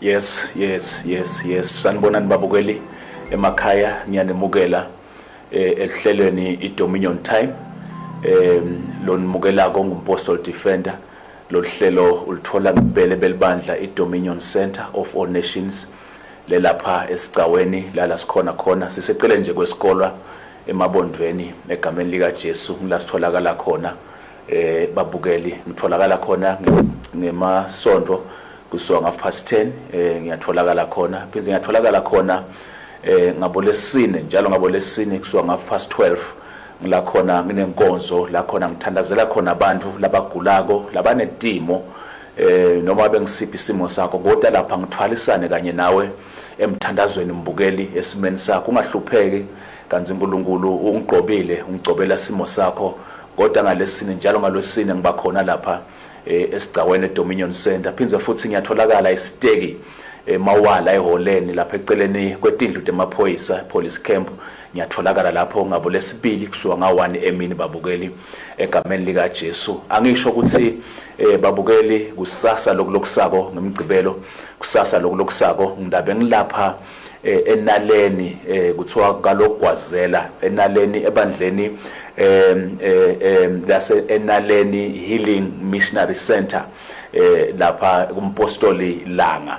Yes, yes, yes, yes. Sanibonani babukeli emakhaya ngiyanemukela eh ehlelweni iDominion Time. Eh lonimukela kongumpostol defender loluhlelo ulithola kubele belibandla iDominion Center of All Nations lelapha esicaweni lala sikhona khona sisecele nje kwesikolwa Emabondweni egameni likaJesu ngila sitholakala khona eh babukeli ngitholakala khona ngemasonto kusuka ngaf past 10 eh ngiyatholakala khona pheze ngiyatholakala khona eh ngabo lesine njalo ngabo lesine kusuka ngaf past 12 ngila khona nginenkonzo la khona ngithandazela khona abantu labagulako labanetimo eh noma bengisiphi isimo sakho kodwa lapha ngithwalisane kanye nawe emthandazweni mbukeli esimeni sakho ungahlupheki kanti uNkulunkulu ungigqobile ungigcobela isimo sakho kodwa ngalesine njalo ngalwesine ngiba khona lapha eh, esigcaweni eDominion Center phindze futhi ngiyatholakala isiteki emawala eh, eholeni lapha eceleni kwetindlu temaphoyisa police camp ngiyatholakala lapho ngabo lesibili kusuka nga-1 emini babukeli Egameni likaJesu angisho ukuthi eh babukeli kusasa lokulokusako ngimgcibelo kusasa lokulokusako ngidabe ngilapha eh, enaleni eh, kuthiwa kalogwazela enaleni ebandleni eh, eh, lase enaleni healing missionary center eh lapha kumpostoli langa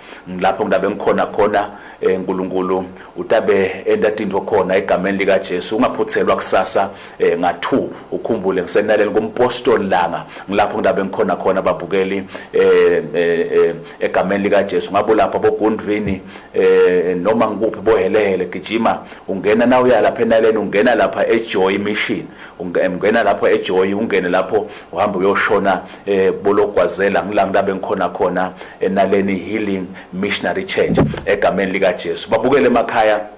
Ngilapho ngilabe ngikhona khona eh, Nkulunkulu utabe entatindwe khona egameni lika Jesu ungaphuthelwa kusasa eh, nga 2 ukhumbule ngisenalela kumpostoli langa ngilapho ngilabe ngikhona khona babukeli eh, eh, eh, egameni lika Jesu ngabo lapha bogundvini eh, noma ngikuphi bohelehele gijima ungena na uya lapha enaleni ungena lapha eJoy mission ungena lapho eJoy ungene lapho uhamba uyoshona eh bologwazela ngila ngilabe ngikhona khona enaleni eh, healing missionary church egameni lika Jesu babukele emakhaya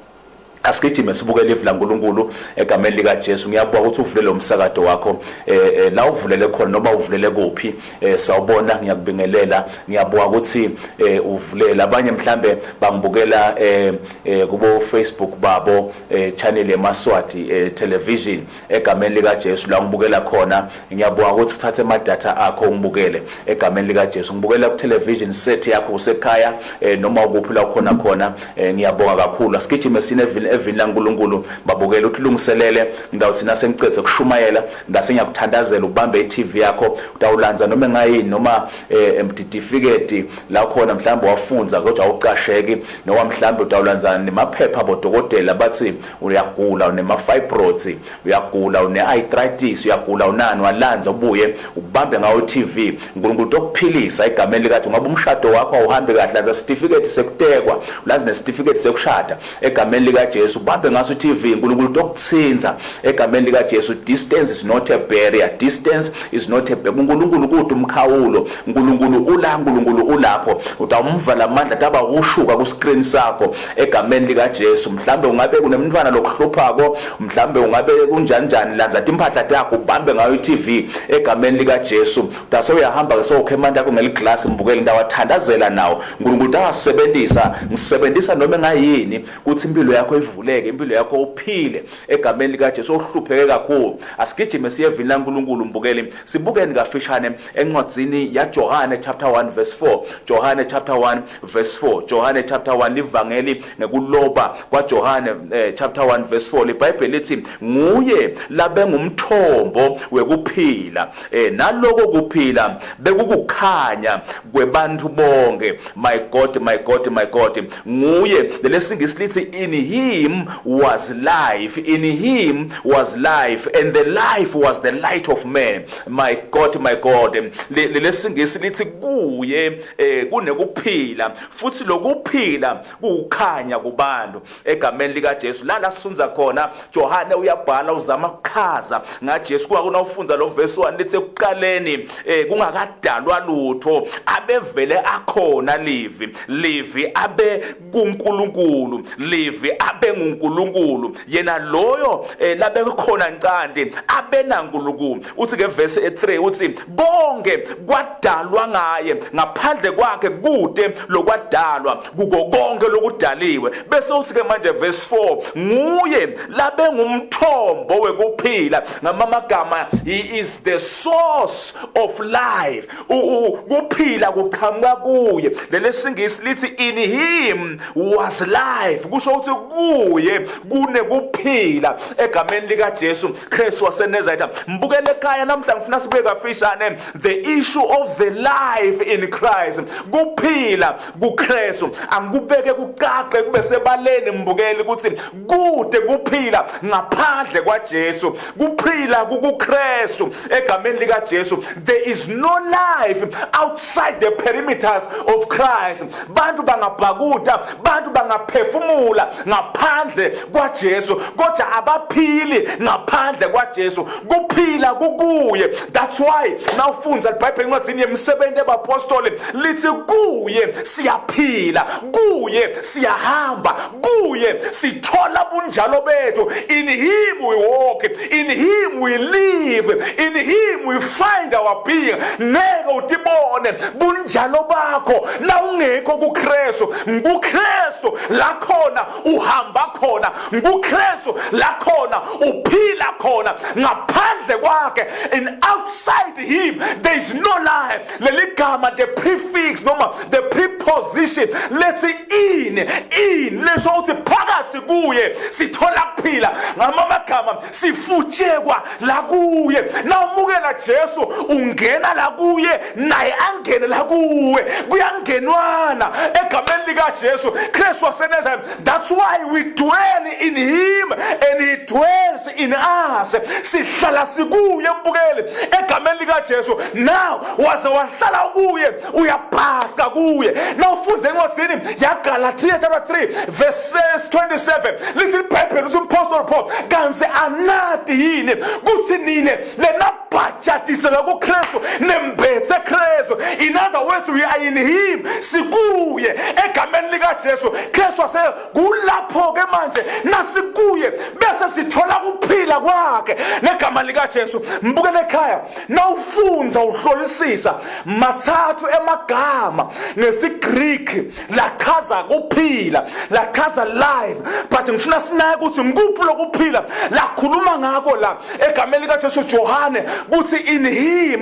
asigijime sibukele ivu laNkulunkulu egameni lika Jesu ngiyakubuka ukuthi uvule lo msakato wakho eh, eh la uvulele khona noma uvulele kuphi eh, sawubona ngiyakubingelela ngiyabuka ukuthi eh, uvulela abanye mhlambe bangibukela eh, eh, kubo Facebook babo eh, channel yeMaswati eh, television Egameni lika Jesu la ngibukela khona ngiyabonga ukuthi uthathe ama data akho ungibukele egameni lika Jesu ngibukela ku television set yakho usekhaya eh, noma ukuphi la ukhona khona eh, ngiyabonga kakhulu asigijime sine evini evini la nkulunkulu babukele uthilungiselele ngidawuthi nase ngicedze kushumayela ngase ngiyakuthandazela ubambe i TV yakho utawulanza noma engayini noma eh, emtidifiketi la khona mhlawumbe wafunza kodwa awucasheki noma mhlawumbe utawulanza nemaphepha bodokotela bathi uyagula unemafibroids uyagula une-arthritis uyagula unani walanza ubuye ubambe ngawo i-tv unkulunkulu tokuphilisa egameni likathi ngoba umshado wakho awuhambi kahle lanza sitifiketi sekutekwa ulanze nesitifiketi sekushada egameni likajesu ubambe ngaso i-tv unkulunkulu tokuthinza egameni likajesu distance is not a barrier distance is not a barrier unkulunkulu kude umkhawulo unkulunkulu ula unkulunkulu ulapho utawumvala amandla taba ushuka ku-screen sakho egameni likaJesu mhlambe ungabe kunemntwana lokuhluphako mhlambe ungabe kunjani njani lanza timphahla takho ubambe ngayo iTV egameni likaJesu dase uyahamba ke sokhe manje yakho ngeliglass mbukele ndawo athandazela nawo uNkulunkulu angasebenzisa ngisebenzisa noma engayini kuthi impilo yakho ivuleke impilo yakho uphile egameni likaJesu ohlupheke kakhulu asigijime siye evini laNkulunkulu mbukeli sibukeni kafishane encwadzini yaJohane chapter 1 verse 4 Johane chapter 1 verse 4 Johane chapter 1 livangeli ngekuloba kwaJohane eh, chapter 1 verse 4 libhayibheli lithi nguye labengumthombo wekuphila eh, naloko kuphila bekukukhanya kwebantu bonke my god my god my god nguye lelesingisi lithi in him was life in him was life and the life was the light of man my god my god lelesingisi lithi kuye eh kunekuphila futhi lokuphila kukhanya kubantu egameni lika Jesu la lasunza khona Johane uyabhala uzama ukuchaza nga Jesu kuba kuna ufundza lo verse 1 lithi ekuqaleni eh kungakadalwa lutho abevele akhona livi livi abe kuNkulunkulu live abenguNkulunkulu yena loyo eh, labekhona ncanti abenaNkulunkulu uthi ke verse 3 uthi konke kwadalwa ngaye ngaphandle kwakhe kude lokwadalwa kuko konke lokudaliwe bese uthi ke manje verse 4 nguye labengumthombo wekuphila ngamamagama he is the source of life ukuphila kuqhamuka kuye lelesingisi lithi in him was life kusho ukuthi kuye kunekuphila egameni likaJesu Kristu waseNazareth mbukele ekhaya namhla ngifuna sibuye kafishane the issue of the life in Christ kuphila kuKristu angikubeke kucace kube sebaleni mbukeli ukuthi kude kuphila ngaphandle kwaJesu kuphila kukuKristu egameni likaJesu there is no life outside the perimeters of Christ bantu bangabhakuda bantu bangaphefumula ngaphandle kwaJesu kodwa abaphili ngaphandle kwaJesu kuphila kukuye that's why nawufunza iBhayibheli incwadi yemisebenzi ebapostoli lithi kuye siyaphila kuye siyahamba kuye sithola bunjalo bethu in him we walk in him we live in him we find our being ngeke utibone bunjalo bakho la ungekho kuKristu ngikuKristu la khona uhamba khona ngikuKristu la khona uphila khona ngaphandle kwakhe and outside him there is no life leli gama the prefix noma the preposition lethi in in lesho ukuthi phakathi kuye sithola kuphila ngama magama sifutshekwa la kuye nawumukela Jesu ungena la kuye naye angene la kuwe kuyangenwana egameni lika Jesu Christ waseNazareth that's why we dwell in him and he dwells in us sihlala sikuye mbukeli egameni likaJesu now waze wahlala kuye uyabhaca kuye now ufunde encwadini yaGalatia chapter 3 verse 27 listen bible uthi umpostoli Paul kanti anati yini kuthi nine lena bhajatisela kuKristu nembethe Kristu in other words we are in him sikuye egameni likaJesu Kristu wase kulapho-ke manje nasikuye bese sithola ukuphila kwakhe negama likajesu mbukele ekhaya nawufunza uhlolisisa mathathu emagama ngesigriki lachaza kuphila lachaza life but ngifuna sinake ukuthi ngikuphi lokuphila lakhuluma ngako la egameni likaJesu Johane kuthi in him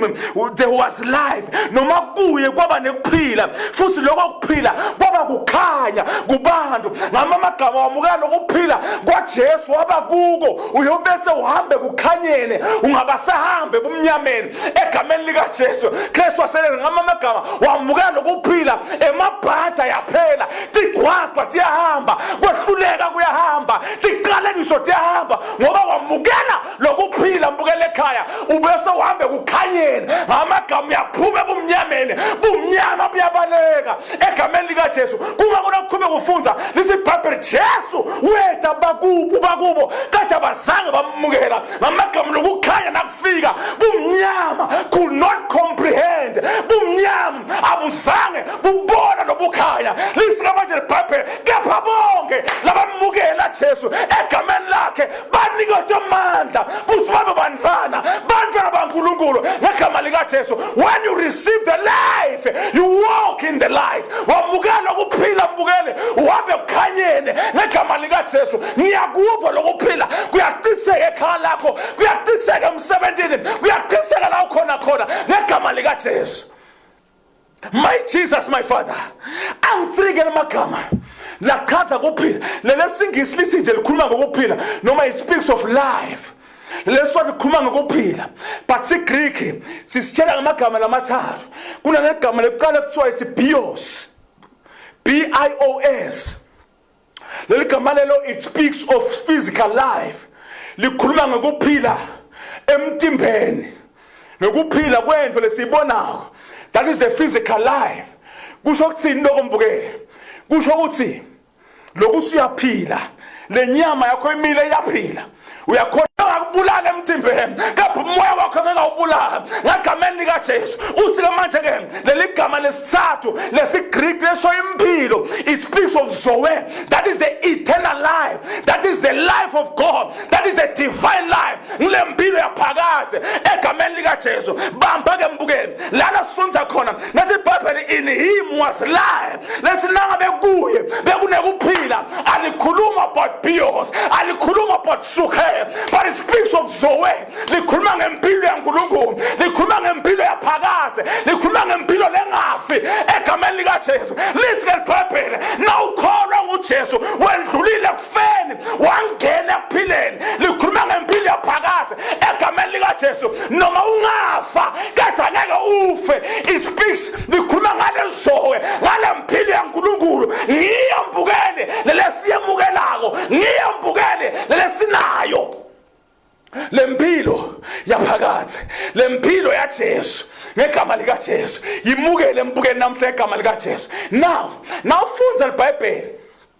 there was life noma kuye kwaba nekuphila futhi lokho kuphila kwaba kukhanya kubantu ngama amagama wamukela lokuphila kwaJesu waba kuko uyobese uhambe kukhanyeni ungabasahambe ebumnyameni egameni likaJesu Kristu waselela ngama amagama wamukela lokuphila emabhada yaphela tigwagwa tiyahamba kwehluleka kuyahamba tiqalekiso tiyahamba ngoba wamukela lokuphila mbukela ekhaya ubese uhambe kukhanyeni ngamagama uyaphuma ebumnyameni bumnyama buyabaleka egameni likajesu kuba kunokukhube kufunza lisibhabheli jesu weda bakubo bakubo kade abazange bamukela ngamagama lokukhanya fika bumnyama could not comprehend bumnyama abuzange bubona nobukhanya lisika manje libhabhele kepha bonke labamukela jesu egameni lakhe banikezwe amandla futhi babe bantwana bantwana bankulunkulu ngegama likajesu when you receive the life you walk in the light wamukela ukuphila mbukele uhambe kukhanyeni ngegama likajesu ngiyakuva lokuphila kuyacitheka ekhaya lakho kuyaciseka emsebenzini kuyaciseka la ukhona khona ngegama likajesu my jesus my father angitsike lamagama lachaza kuphila lelesingisi lithi nje likhuluma ngokuphila noma it speaks of life leswa likhuluma ngokuphila but sigreek sisitshela ngamagama lamathathu kunanegama lokuqala kuthiwa ithi bios b i o s leli gama lelo it speaks of physical life likhuluma ngokuphila emtimbeni nokuphila kwendlu lesiyibonako that is the physical life kusho ukuthini lokho mbukele kusho ukuthi lokuthi uyaphila lenyama yakho imile iyaphila uyakhona ngakubulala emthimbeni kepha umoya wakho ngingawubulala ngagameni likajesu uthi-ke manje-ke leli gama lesithathu lesigriki lesho impilo it speaks of zoe that is the eternal life that is the life of god that is the divine life ngile mpilo yaphakathi egameni likajesu bamba-ke mbukeni lana sifunza khona nathi ibhayibheli in him was life lethi nangabe kuye bekunekuphila alikhuluma about bios alikhuluma about suhe but it speaks of zoe likhuluma ngempilo yankulunkulu likhuluma ngempilo yaphakade likhuluma ngempilo lengafi egameni likajesu lizike libhebhele nawukholwa ngujesu wendlulile ekufeni wangena ekuphileni likhuluma ngempilo yaphakade egameni likaJesu noma ungafa kese ngeke ufe ispeaks likhuluma ngale zowe ngale mpilo yaNkulunkulu ngiyo mbukele lelesiyemukelako ngiyo mbukele lelesinayo lempilo yaphakade lempilo yaJesu ngegama likaJesu yimukele embukeni namhla ngegama likaJesu now nawufunza libhayibheli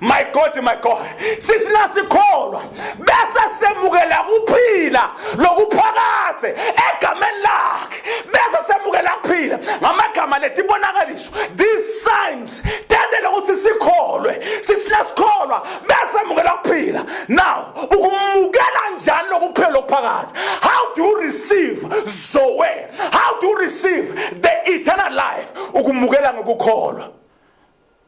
my god my god sisinasikholo bese semukela kuphila lokuphakathe egameni lakhe bese semukela kuphila ngamagama letibonakaliso these signs tendele ukuthi sikholwe sisinasikholo bese mukela kuphila now ukumukela njani lokuphila lokuphakathe how do you receive zoe how do you receive the eternal life ukumukela ngokukholwa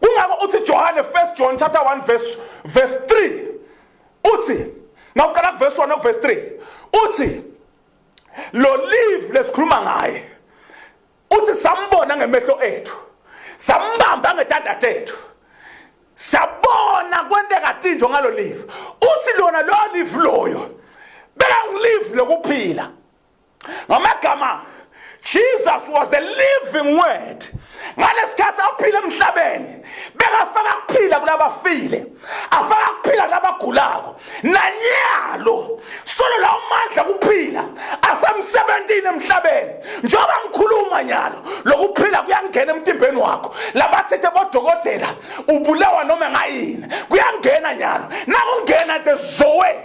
Kungako uthi Johane 1 John chapter 1 verse verse 3 uthi nawuqala kuverse 1 nokuverse 3 uthi lo live lesikhuluma ngaye uthi sambona ngemehlo ethu sambamba ngetanda tethu sabona kwenteka tinto ngalo live uthi lona lo live loyo beka ngilive lokuphila ngamagama Jesus was the living word ngalesikhathi aphila emhlabeni bekafaka kuphila kulabafile afaka kuphila kulabagulako nanyalo solo la umandla kuphila asemsebenzini emhlabeni njengoba ngikhuluma nyalo lokuphila kuyangena emtimbeni wakho labathethe bodokotela ubulawa noma ngayini kuyangena nyalo nakungena the zoe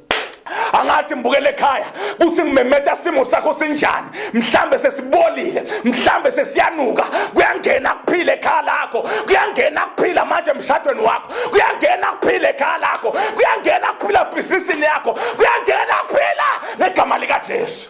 angathi ngibukele ekhaya kuthi ngimemeta simo sakho sinjani mhlambe sesibolile mhlambe sesiyanuka kuyangena kuphile ekhaya lakho kuyangena kuphila manje emshadweni wakho kuyangena kuphile ekhaya lakho kuyangena kuphila ebhizinisini yakho kuyangena kuphila ngegama likaJesu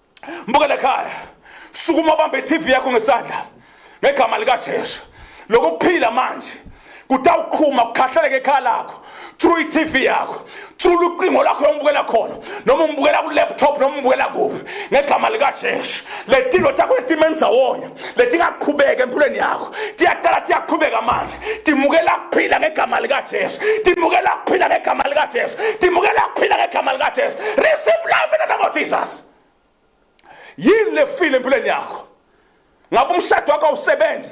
mbuka lekhaya sukuma ubambe iTV yakho ngesandla ngegama lika Jesu lokuphila manje kutawuqhuma kukhahleleke ekhaya lakho through iTV yakho through lucingo lakho yombukela khona noma umbukela ku laptop noma umbukela kuphi ngegama lika Jesu letilo takho etimeni zawonya letingaqhubeka empilweni yakho tiyaqala tiyaqhubeka manje timukela kuphila ngegama likajesu timukela kuphila ngegama likajesu timukela kuphila ngegama likajesu receive love in the name of jesus yini lefile empilweni yakho ngabe umshado wakho awusebenzi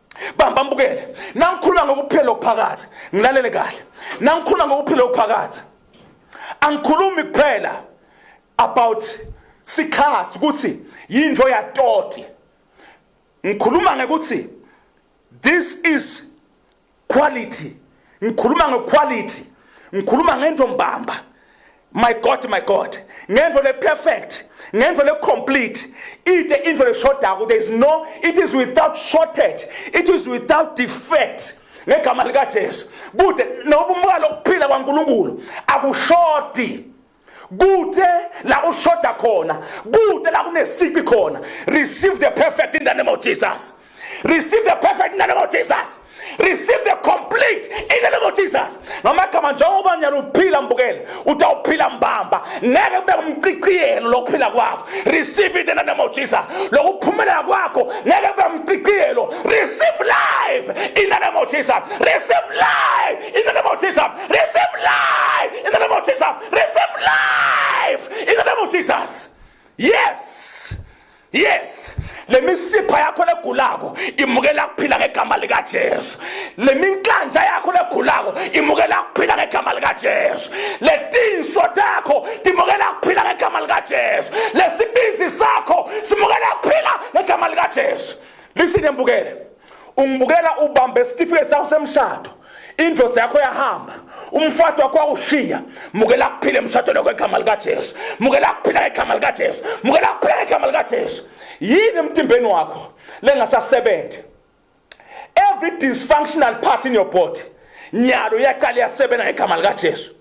bamba mbukele nangikhuluma ngokuphila lokuphakathi ngilalele kahle nangikhuluma ngokuphila lokuphakathi angikhulumi kuphela about sikhathi ukuthi yinto yatoti ngikhuluma ngekuthi this is quality ngikhuluma ngequality ngikhuluma ngento mbamba my god my god ngento le perfect ngento le complete ide into le shodako there is no it is without shortage it is without defect ngegama likaJesu bude noba umukalo ukuphila kwaNkuluNkulu akushodi kude la ushoda khona kude la kunesici khona receive the perfect in the name of jesus receive the perfect in the name of jesus receive the complete in the name of jesus ngamagama njengoba nyana uphila mbukele utawuphila mbamba ngeke kube umciciyelo lokuphila kwakho receive it in the name of jesus lokuphumelela kwakho ngeke kube umciciyelo receive life in the name of jesus receive life in the name of jesus Receive life in the name of Jesus. Receive life in the name of Jesus. Yes. Yes. lemisipha yakho legulako imukela kuphila ngegama lika Jesu leminkanja yakho legulako imukela kuphila ngegama lika Jesu letinso takho timukela kuphila ngegama lika Jesu lesibinzi sakho simukela kuphila ngegama lika Jesu listen embukele ungibukela ubambe isitifiketi sakho semshado indoda yakho yahamba umfato wakho wawushiya mukela kuphila emshadweni wakho egama likajesu mukela kuphila ngegama likajesu mukela kuphila ngegama likajesu yini emtimbeni wakho lengasasebenzi every dysfunctional part in your body nyalo yaqala yasebenza ngegama likajesu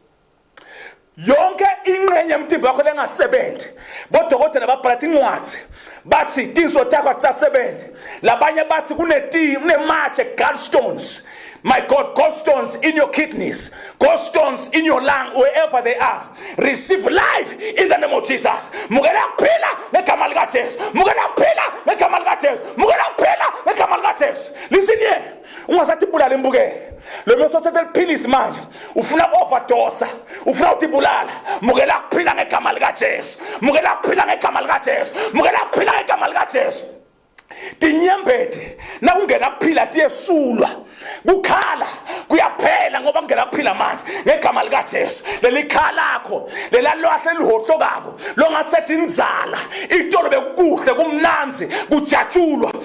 yonke inqenye yomtimba wakho lengasebenzi bodokotela babhalatha incwadi bathi tinso takho akusasebenzi labanye bathi kunematshe gallstones my god gallstones in your kidneys gallstones in your lung wherever they are receive life in the name of jesus mukela kuphila ngegama likajesu mukela kuphila ngegama likajesu mukela kuphila ngegama likajesu listen here ungasathi ibulala imbukele lo mesothethe liphilisi manje ufuna overdosa ufuna ukuthi ibulala mukela kuphila ngegama likajesu mukela kuphila ngegama likajesu mukela kuphila ngegama likajesu tinyembede nakungena kuphila tiyesulwa kukhala kuyaphela ngoba kungena kuphila manje ngegama likajesu lelikhalakho lelalwahle elihohlokako longasethi inzala itolo bekukuhle kumnanzi kujatshulwa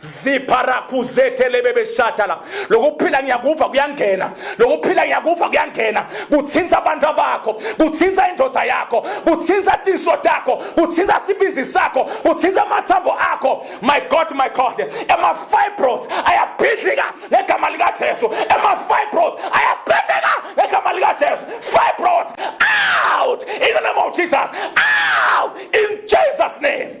ziparakuzetelebebeshatala lokuphila ngiyakuva kuyangena lokuphila ngiyakuva kuyangena kuthinta abantu bakho kuthinta indoda yakho kuthinta tinso takho kuthinta sibinzi sakho kuthinta amathambo akho my god my god ema-fibros ayabhidlika ngegama likajesu ema-fibros ayabhidlika ngegama likajesu fibros out in the name of jesus out in jesus name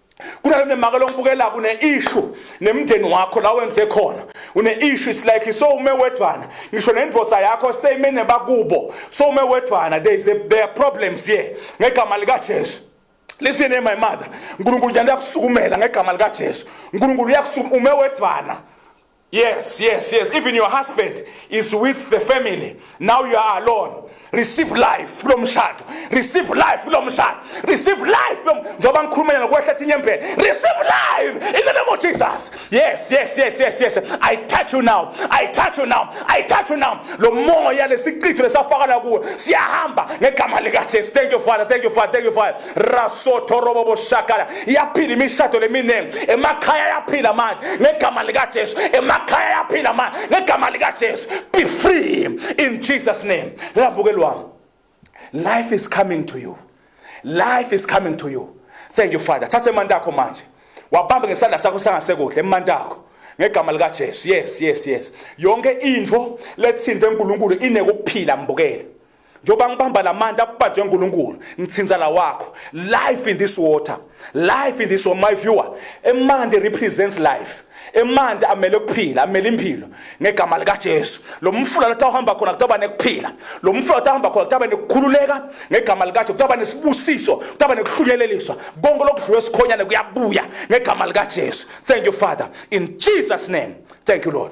kunalo nemaka longibukelayo une issue nemndeni wakho la wenze khona une issue is like so ume wedwana ngisho nendoda yakho same nebakubo so ume wedwana there is a, there are problems here ngegama lika Jesu listen my mother uNkulunkulu uyakusukumela ngegama lika Jesu uNkulunkulu uyakusuma ume wedwana Yes, yes, yes. Even your husband is with the family. Now you are alone. Receive life kulo mshado. Receive life kulo mshado. Receive life kulo njengoba ngikhulumela nokwehla inyembhe. Receive life in the name of Jesus. Yes, yes, yes, yes, yes. I touch you now. I touch you now. I touch you now. Lo moya lesichitho lesafakala kuwe siyahamba ngegama lika Jesu. Thank you Father. Thank you Father. Thank you Father. rasothorobobo shakala yaphila imishado leminingi emakhaya yaphila manje ngegama likajesu emakhaya yaphila manje ngegama likajesu be free in jesus name lambukeli wami life is coming to you life is coming to you thank you father thatha emanti akho manje wabambe ngesandla sakho sangasekuhle emanti akho ngegama likajesu yes yes yes yonke into lethinte unkulunkulu inekuphila mbukele njengoba ngibamba la manti akubanjwe uNkulunkulu ngithinta la wakho life in this water life in this water my viewer emanti represents life emanti amele ukuphila amele impilo ngegama likaJesu lo mfula lotha uhamba khona kutaba nekuphila lo mfula lotha uhamba khona kutaba nekukhululeka ngegama likaJesu kutaba nesibusiso kutaba nekuhlunyeleliswa konke lokudliwe sikhonyane kuyabuya ngegama likaJesu thank you father in Jesus name thank you lord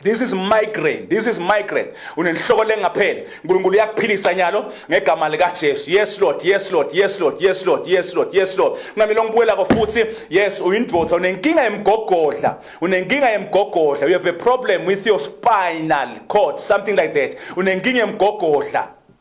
This is migraine. This is migraine. Unenhloko lengapheli. uNkulunkulu uyakuphilisa nyalo ngegama lika Jesu. Yes Lord, yes Lord, yes Lord, yes Lord, yes Lord, yes Lord. Ngamile ngibuyela ko futhi. Yes, uyindvodza unenkinga yemgogodla. Unenkinga yemgogodla. You have a problem with your spinal cord, something like that. Unenkinga yemgogodla.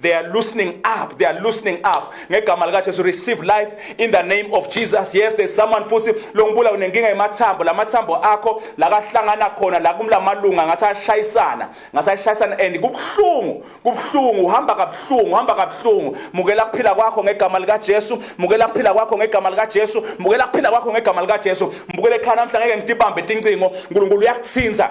They are loosening up. They are loosening up. Ngegama lika Jesu receive life in the name of Jesus. Yes, there's someone futhi longibula unenkinga yemathambo. Lamathambo akho lakahlangana khona la kumlamalunga ngathi ashayisana. Ngathi ashayisana and kubhlungu. Kubhlungu uhamba kabhlungu, uhamba kabhlungu. Mukela kuphila kwakho ngegama lika Jesu. Mukela kuphila kwakho ngegama lika Jesu. Mukela kuphila kwakho ngegama lika Jesu. Mukele khana mhla ngeke ngitibambe tincingo. uNkulunkulu uyakuthinza.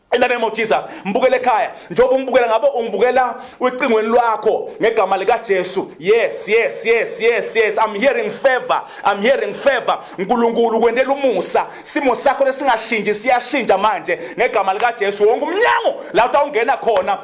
In the name of Jesus, mbukele ekhaya njengoba ungibukela ngabo ungibukela ucingweni lwakho ngegama lika Jesu. Yes, yes, yes, yes, yes. I'm hearing favor. I'm hearing favor. Nkulunkulu kwendela umusa. Simo sakho lesingashinji siyashinja manje ngegama lika Jesu. Wonke umnyango la utawungena khona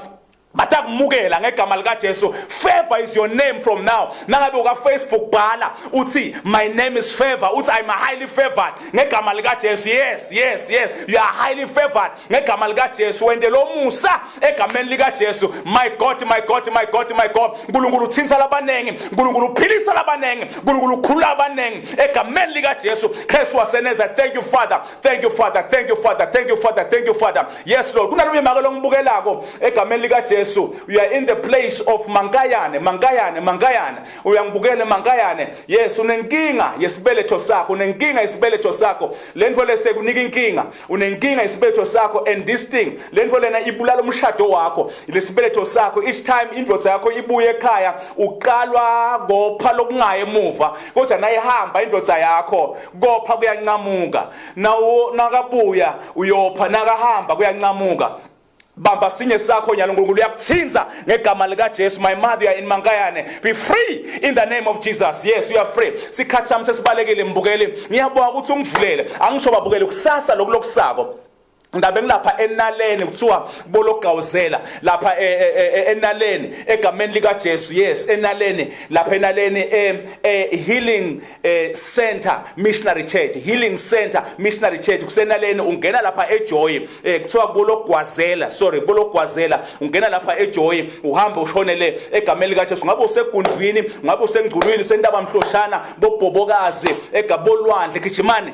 bathi akumukela ngegama likaJesu favor is your name from now nangabe uka Facebook bhala uthi my name is favor uthi i'm highly favored ngegama likaJesu yes yes yes you are highly favored ngegama likaJesu wende lomusa egameni likaJesu my god my god my god my god uNkulunkulu uthinta labaningi uNkulunkulu uphilisa labaningi uNkulunkulu ukhulula abaningi egameni likaJesu Jesu waseNazaretha thank you father Thank you Father, thank you Father, thank you Father, thank you Father. Yes Lord. Kunalomunye maka longibukelako egameni lika Jesu. You are in the place of Mankayane, Mankayane, Mankayane. Uyangibukele Mankayane. Yes, unenkinga yesibeletho sakho, unenkinga yesibeletho sakho. Lento lese kunika inkinga. Unenkinga yesibeletho sakho and this thing. Lento lena ibulala umshado wakho. Lesibeletho sakho each time indvodza yakho ibuye ekhaya uqalwa ngopha lokungaye emuva. Kodwa naye hamba indvodza yakho. kopha kuyancamuka nawo nakabuya uyopha nakahamba kuyancamuka bamba sinye sakho nyalo uNkulunkulu uyakuthinza ngegama lika Jesu my mother you in mankayane be free in the name of Jesus yes you are free sikhathi sami sesibalekile mbukeli ngiyabonga ukuthi ungivulele angisho babukele kusasa lokulokusako Ndabe ngilapha enaleni kuthiwa bologawuzela lapha e, e, e, enaleni egameni lika Jesu yes enaleni lapha enaleni e healing center missionary church healing center missionary church kusenaleni ungena lapha ejoy kuthiwa bologwazela sorry bologwazela ungena lapha ejoy uhamba ushonele egameni lika Jesu ngabe usegundwini ngabe usengculwini sentaba mhloshana bobhobokazi egabolwandle gijimani